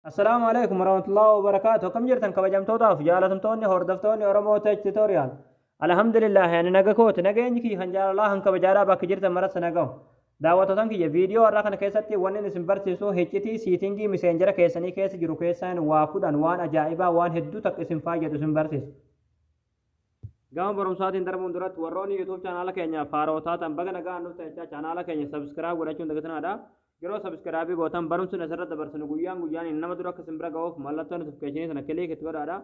Assalaamu alaikum warahmatullahi wabarakaatu akkam jirtan kabajamtootaaf jaalatamtoonni hordoftoonni Oromoo Tech Tutorial Alhamdulillah ani naga kooti nageenyi kiyya kan jaalalaa kan kabajaadhaa bakka jirtan maratti nagaa daawwatootan kiyya viidiyoo har'aa kana keessatti wanni isin barsiisu hiccitii siitingii miseenjera keessanii keessa jiru keessaan waa kudhan waan ajaa'ibaa waan hedduu takka isin fayyadu isin barsiisu. Gama barumsaatiin darbuun duratti warroonni YouTube chaanaala keenyaaf haaraa taatan baga nagaan dhuftan jechaa chaanaala keenya subscribe godhachuun dagatinaa dha. Yeroo subscribe gootan barumsi nuti asirratti dabarsinu guyyaan guyyaan nama dura akka isin bira ga'uuf mallattoo notification sana click itti godhaadha.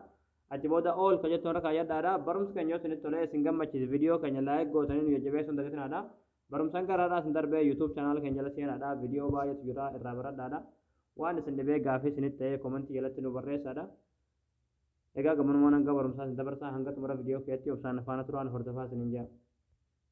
Achi booda all ka jettu irra kaayyadhaadha. Barumsi keenya yoo isinitti tolee isin gammachiise video keenya like gootanii nu jajjabeessuun dagatinaa. Barumsan garaadhaa isin darbee YouTube channel keenya jala seenaadha. Video baay'eetu jira irraa baradhaadha. Waan isin dhibee gaafii isinitti ta'ee comment jalatti nu barreessaadha. Egaa gammanumaan hanga barumsaa isin dabarsaa hanga xumura video keetti obsaan faana turaan hordofaa isiniin jaa.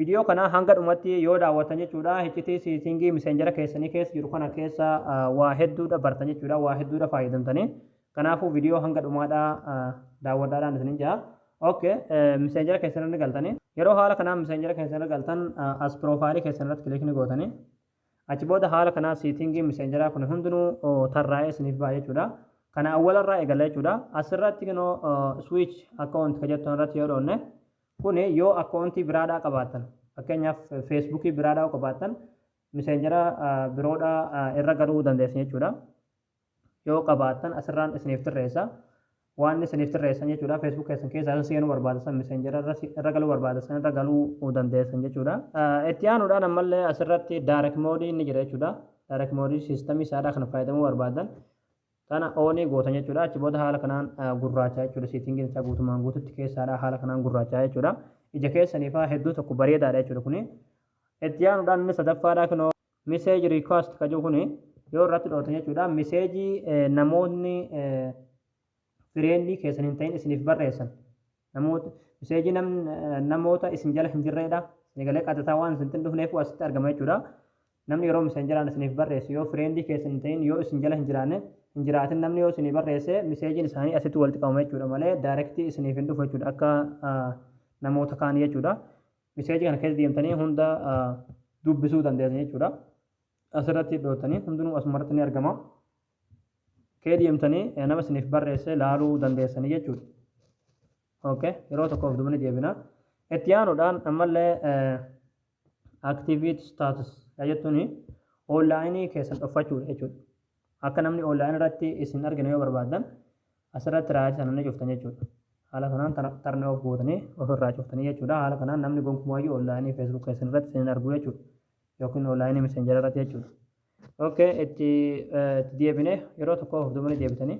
Video kana hanga dhumatti yoo daawwattan jechuudha hiccitii seetingii miseenjera keessanii keessa jiru kana keessa waa hedduudha bartan jechuudha waa hedduudha fayyadamtanii kanaafuu video hanga dhumaadha daawwadhaadhaan isinin jaha ok miseenjera keessan irra galtanii yeroo haala kanaa miseenjera keessan irra galtan as piroofaayilii keessan irratti kilikni gootanii achi booda haala kanaa seetingii miseenjeraa kun hundinuu tarraa'ee isiniif ba'a jechuudha kana awwalarraa eegala jechuudha asirratti kinoo switch account ka jettan irratti yoo dhoonne Kun yoo akkoontii biraadhaa qabaattan fakkeenyaaf feesbuukii biraadhaa yoo qabaattan miseenjera biroodhaa irra galuu dandeessan jechuudha. Yoo qabaattan asirraan isiniif tirreessa. Waan isiniif tirreessan jechuudha feesbuuk keessan keessaa isa seenuu barbaada san miseenjera irra galuu barbaada san irra galuu dandeessan jechuudha. Itti aanuudhaan ammallee asirratti daarek moodii inni jira jechuudha. Daarek moodii siistamii isaadhaa kan fayyadamuu barbaadan Kana onii gootan jechuudha. Achi booda haala kanaan gurraachaa jechuudha. Seetingiin isaa guutumaan guututti keessaadha. Haala kanaan gurraachaa jechuudha. Ija keessaniifaa hedduu tokko bareedaadha jechuudha kuni. Itti aanuudhaan inni sadaffaadha kunoo message request ka jiru kuni yoo irratti dhootan jechuudha. Message namoonni fireendii keessan hin ta'in isiniif barreessan Namoot message nam namoota isin jala hin jirreedha isin galee qaxataa waan isintin dhufneefuu asitti argama jechuudha namni yeroo messengeraan isiniif barreessu yoo friendii keessan hin ta'in yoo isin jala hin jiraanne hin jiraatin namni yoo isinii barreesse messagin isaanii asitti walitti qabama jechuudha malee direct isiniif hin dhufu jechuudha akka namoota kaanii jechuudha message kana keessa deemtanii hunda dubbisuu dandeessan jechuudha asirratti dhootanii hundinuu asumarratti ni argama kee deemtanii eh, nama isiniif barreesse laaluu dandeessanii jechuudha. Okay. Yeroo tokko of dubanii deebina. Itti aanuudhaan ammallee eh, activate status yaa jettuun oonlaayinii keessan dhoffachuudha jechuudha. Akka namni oonlaayinii irratti isin argina yoo barbaadan asirratti raayyaa sana ni cuftan jechuudha. Haala kanaan tar- tarnee of gootanii ofirraa cuftanii jechuudha. Haala kanaan namni gonkumayyuu oonlaayinii feesbuuk keessan irratti isin hin argu jechuudha. yookiin online messenger irratti jechuudha. Okay, itti eh, itti deebine yeroo tokko of duubanii deebitanii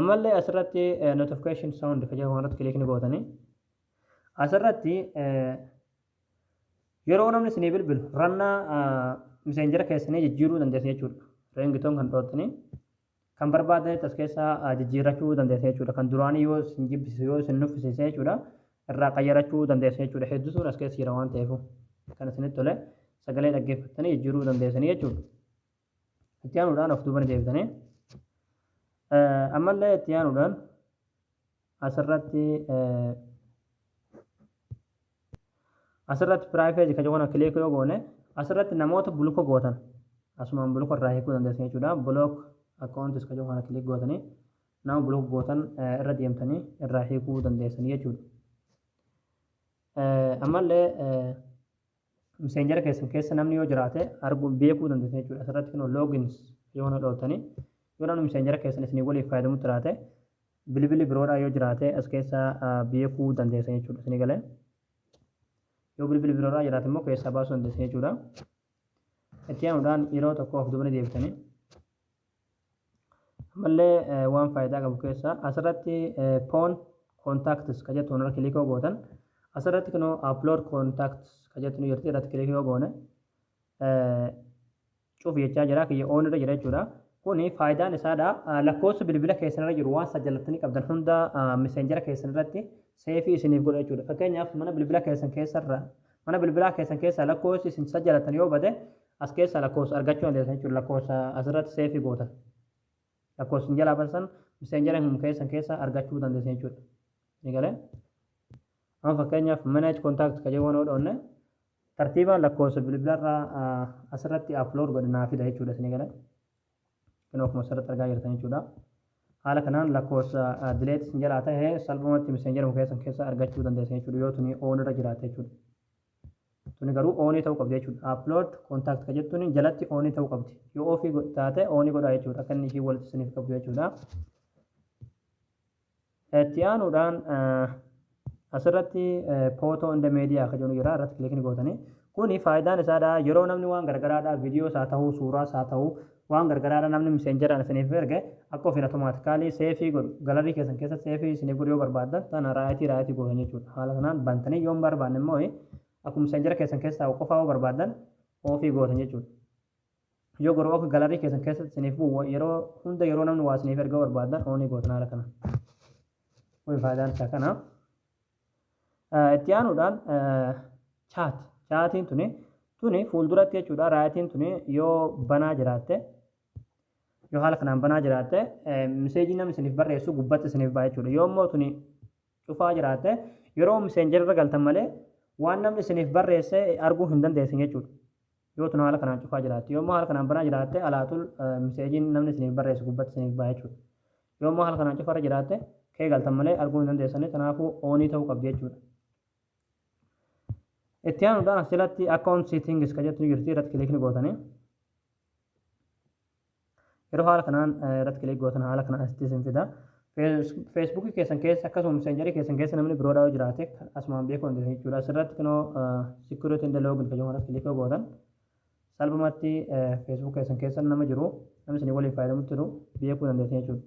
ammallee asirratti eh, notification sound kan jedhamu irratti kilikni gootanii asirratti eh, yeroo namni isinii bilbilu rannaa messenger keessanii jijjiiruu dandeessu jechuudha. Ringtoon kan dhoottanii Kan barbaadanitti as keessa jijjiirrachuu dandeessa jechuudha. Kan duraanii yoo isin jibbisiise yoo isin nuffisiise jechuudha irraa qayyarachuu dandeessa jechuudha. Hedduutuun as keessa jira waan ta'eef kan isinitti tole sagalee dhaggeeffattanii jijjiiruu dandeessanii jechuudha. Itti aanuudhaan of duuba ni deebitanii ammallee itti aanuudhaan asirratti asirratti piraayifeezi kan jedhu kileek yoo goone asirratti namoota buluko gootan asumaan buluko irraa hiikuu dandeessan jechuudha bulook akkaawuntis kan jedhu kana kileek gootanii nama buluko gootan irra deemtanii irraa hiikuu dandeessan jechuudha ammallee Messenger keessan keessa namni yoo jiraate arguu beekuu dandeessan jechuudha. Asirratti kunoo logins yoo na dhootanii yoo namni messenger keessan isinii waliif fayyadamu jiraate bilbili biroodhaa yoo jiraate as keessa beekuu dandeessan jechuudha. Isinii galee yoo bilbili biroodhaa jiraate immoo keessaa baasuu dandeessan jechuudha. Itti aanuudhaan yeroo tokko of duubanii deebitanii Ammallee waan faayidaa qabu keessaa asirratti phone contacts ka jettu irra kilikoo gootan asirratti kunoo upload contacts ka jettu nu jirti irratti kilikii yoo goone cufi jechaa jira kiyya oon irra jira jechuudha. Kuni faayidaan isaadha lakkoofsa bilbila keessan irra jiru waan isa jallattanii qabdan hunda miseenjera keessan irratti seefii isiniif godha jechuudha. Fakkeenyaaf mana bilbila keessan keessarra mana bilbilaa keessan keessaa lakkoofsi isin isa jallattan yoo bade As keessaa lakkoofsa argachuu dandeessan jechuudha. Lakkoofsa asirratti seefii gootan. Lakkoofsa isin jalaa batan san miseenjara hin keessan keessaa argachuu dandeessan jechuudha. Ni galee? Amma fakkeenyaaf manage contact ka jedhu yoo dhoonne tartiibaan lakkoofsa bilbilarraa asirratti upload godhe naa fida jechuudha. Ni galee? Kan akkuma asirratti argaa jirtan jechuudha. Haala kanaan lakkoofsa delete isin jalaa ta'e salphumatti miseenjara hin keessan keessaa argachuu dandeessan jechuudha. Yoo tuni on irra jiraate jechuudha. Tuni garuu oonii ta'uu qabdi jechuudha. Upload contact ka jettuun jalatti oonii ta'uu qabdi. Yoo ofii go- taate oonii godhaa jechuudha. Akka inni ishii walitti isiniif qabdu jechuudha. Itti aanuudhaan eh, asirratti eh, photo in the media akka jedhu jira irratti kilikni gootanii. Kuni faayidaan isaadha yeroo namni waan garagaraadha viidiyoos haa ta'uu suuraas haa ta'uu Waan gargaraadha namni misenjaraan isiniif erge akka ofiin automaatikaalii seefii godhu galarii keessan keessatti seefii isiniif godhu yoo barbaaddan tana raayitii raayitii gootan jechuudha haala kanaan bantanii yoo hin barbaanne immoo akkuma misenjara keessan keessa taa'u qofaa yoo barbaaddan oofii gootan jechuudha. Yoo garuu akka galarii keessan keessatti isiniif bu'u yeroo hunda yeroo namni waa isiniif erga barbaaddan oonii gootan haala kanaan. Kun faayidaan isaa kana. Itti aanuudhaan chaat chaatiin tuni tuni fuulduratti jechuudha raayitiin tuni yoo banaa jiraatte yoo haala kanaan banaa jiraatte miseejii namni isiniif barreessu gubbatti isiniif ba'a jechuudha yoo immoo tuni cufaa jiraatte yeroo miseenjarra galtan malee waan namni isiniif barreesse arguu hin dandeessin jechuudha. Yoo tun haala kanaan cufaa jiraatte. Yoo immoo haala kanaan banaa jiraatte alaaxul miseejiin namni isiniif barreessu gubbatti isiniif baha jechuudha. Yoo immoo haala kanaan cufarra jiraatte kee galtan malee arguu hin dandeessani tanaafuu oonii ta'uu qabdi jechuudha. Itti aanuudhaan as jalatti account settings ka jettu ni jirti irratti kiliikni gootanii. Yeroo haala kanaan irratti kilik gootan haala kanaan asitti isin fida. Feesbuukii keessan keessa akkasuma meseenjarii keessan keessa namni biroodhaa yoo jiraate asumaan beekuu dandeessan jechuudha. Asirratti kunoo security in the login kan jedhamu irratti kilik yoo gootan salphumatti feesbuuk keessan keessa nama jiru namni isin waliin fayyadamu jiru beekuu dandeessan jechuudha.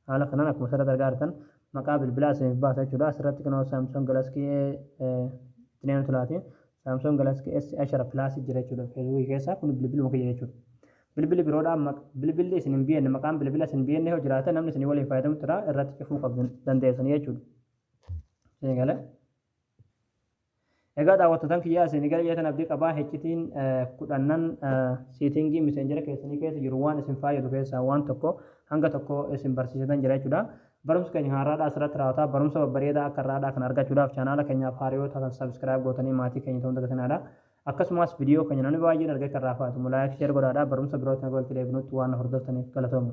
Haala kanaan akkuma asirratti argaa jirtan maqaa bilbilaa isiniif baasa jechuudha. Asirratti kunoo Samsung Galaxy itti neenu tulaati. Samsung Galaxy S ashara plus jira jechuudha Facebook keessa kun bilbiluma kiyya jechuudha. Bilbili biroodhaa bilbilli isin hin bienne maqaan bilbila isin bienne yoo jiraate namni isin waliin fayyadamu jira irratti cufuu qabdan dandeessan jechuudha. Eegale. Egaa daawwattootaan kiyyaa isin gara jeetan abdii qabaa heccitiin kudhannan siitingii miseenjera keessanii keessa jiru waan isin faayyadu keessaa waan tokko hanga tokko isin barsiisatan jira jechuudha. Barumsa keenya kan har'aadhaa asirratti raawwataa barumsa babbareedaa akka har'aadhaa kan argachuudhaaf chaanaala keenyaaf haariyoo taatan sabiskiraayib gootanii maatii keenya ta'uun dagatinaadha. Akkasumas viidiyoo keenya namni baay'een argee kan raafaatu laayik sheer godhaadhaa barumsa birootiin akka walitti deebinutti waan hordoftaniif galatooma.